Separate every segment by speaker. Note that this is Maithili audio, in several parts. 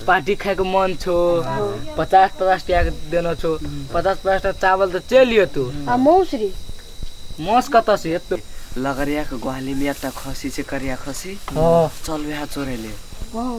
Speaker 1: पार्टी खाएके मन छो पचास पचास टका के देना छो पचास पचास टका चावल तो चल लियो तू आ मौसरी मौस कत से एतो लगरिया के ग्वाली में एकटा खसी छै करिया खसी हाँ चल वएह चोरे ले हाँ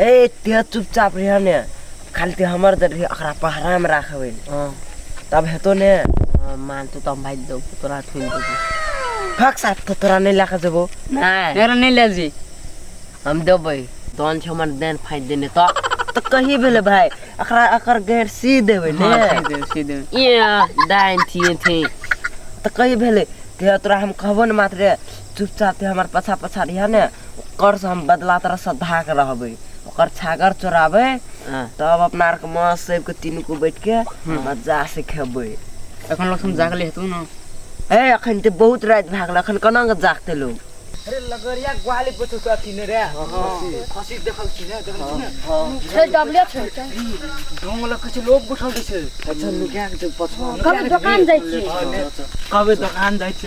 Speaker 1: ए ते चुपचाप रह ने खाली ते हमर दे रही अखरा पहरा में राखबे हां तब हेतो ने हाँ, मान तो तम भाई दो तोरा थुन दो फक साथ तो तोरा नहीं लाख देबो नहीं तेरा नहीं ले जी हम देबे दोन छ हमर देन फाइ देने तो तो कही भेले भाई अखरा अकर गैर सी देबे ने हाँ, सी देबे सी देबे ये दाइन थी थी तो कही भेले ते तोरा हम कहबो न मात्र चुपचाप तू हमर पछा पछा रहिया ने ओकर से हम बदला तरह सधा के रहबे ओकर छागर चोराबे हाँ। तब अपना आर के माँ सब के तीनू को बैठ के मजा से खेबे एखन लोग हम जागले हेतू ना ए अखन ते बहुत रात भागल अखन कना के जागते लोग अरे लगरिया ग्वाली पछो तो अथी ने रे खसी देखल छी ने देखल छी ने छै डबले छै ढोंग लग किछु लोग बैठल रहै छै अच्छा लुकिया के पछो कभी दोकान जाइ छी कहबे दोकान जाइ छी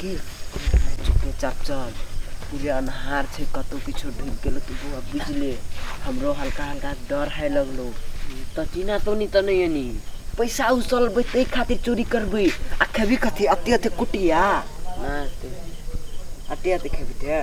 Speaker 1: कि चुपे चाप चल पूरे अन्हार छै कतहु किछो ढुकि गेलौ तऽ बौआ बुझले हमरो हल्का हल्का डर है लगलो तऽ चीना तोनी तऽ नहि एनी पैसा उसलबै ताहि खातिर चोरी करबै आ खेबी कथी अते अते कुटिया अते अते खेबी ते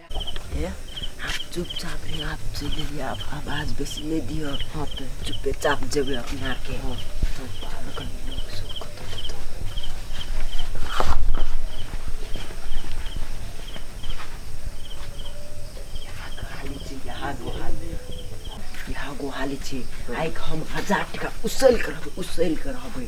Speaker 1: चुपचाप यहाँ से गेलियै आब आवाज बेसी नहि दिअ हँ तऽ चुपे चाप जेबै अपना आरके हँ गोहाली छी आइके हम हजार टाका उसैल कऽ रहबै उसैल कऽ रहबै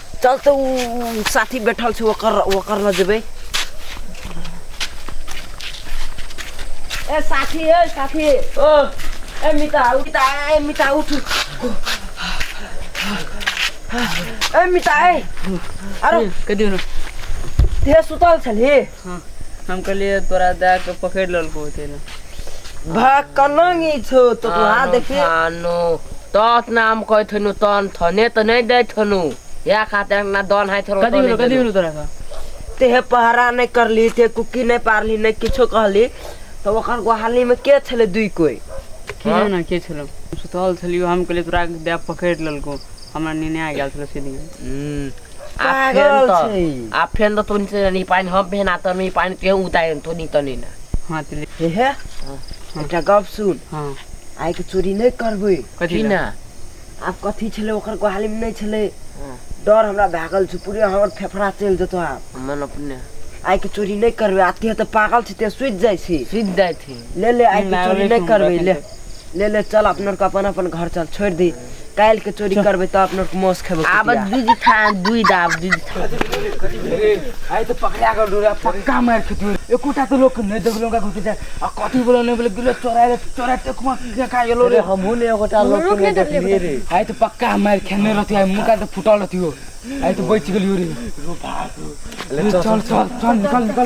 Speaker 1: चल तो उ साथी बैठल छै ओकर ओकर ल जेबै ए साथी ए साथी ओ ए मिता उठ मिता ए मिता उठ ए मिता ए अरे कदियो न ते सुतल छली हँ हम कहलियै तोरा दए कऽ पकड़ि लेलकौ ओते ने भाय कलंग ई छौ तो तू हाथ देखी थानो तत नाम कहै थनु तन थने तऽ नहि दै थनु इएह खातिर ना दन हाइ थनु कथी भेलो कथी भेलो तोरा का तेहे पहरा नहि करली ते कुकी नहि पारली नहि किछो कहली तऽ ओकर गोहाली मे के छले दुइ कोइ की हँ? जाना के छलौ सुतल छलियौ हम कहलियै तोरा दए पकड़ि लेलकौ हमरा नेने आ गेल छलौ से दिन हूँ आ फेन पागल तऽ छै ई। आ फेन तऽ तोनी से नी पानि हम फेन आ तोनी पानि केहु उतारि तोनी तनी ने हँ तऽ ले हे हे एकटा गप सुन हँ आइ के चोरी नहि करबै कथी की लए? ना आब कथी छलै ओकर गोहाली मे नहि छलै हँ। डर हमरा भए गेल छै पूरे हमर फेफड़ा चलि जेतौ आब मन अपने आइ के चोरी नहि करबै आते तऽ पागल छै ते सुति जाइ छी सुति जाइ छी ले ले आइ के चोरी नहि करबै ले ले ले चल अपना आरके अपन अपन घर चल छोड़ि दी काल्हि के चोरी करबै तऽ अपना आरके मौस खेबै आब कुटिया। दूध खा दूध आब दूध खा आइ तऽ पकड़ा कऽ डोरा पक्का मारि खेतू एकोटा तऽ लोक नहि देखलो का घुसि जाय आ कथी बोलो नहि बोलो गिलो चोरा ले चोरा ते कुमा के खा गेलो रे हमहूँ ने एगोटा लोक के नहि देखलियै रे आइ तऽ पक्का मारि खेने रहती आइ मुका तऽ फुटल रहती हो आइ तऽ बचि गेलियो रे चल चल चल निकल निकल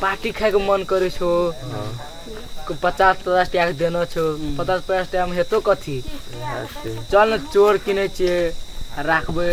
Speaker 1: पार्टी खाइके मन करै छौ पचास पचास टाका देने छौ पचास पचास टाकामे हेतौ कथी चल ने चोर किनै छियै आ राखबै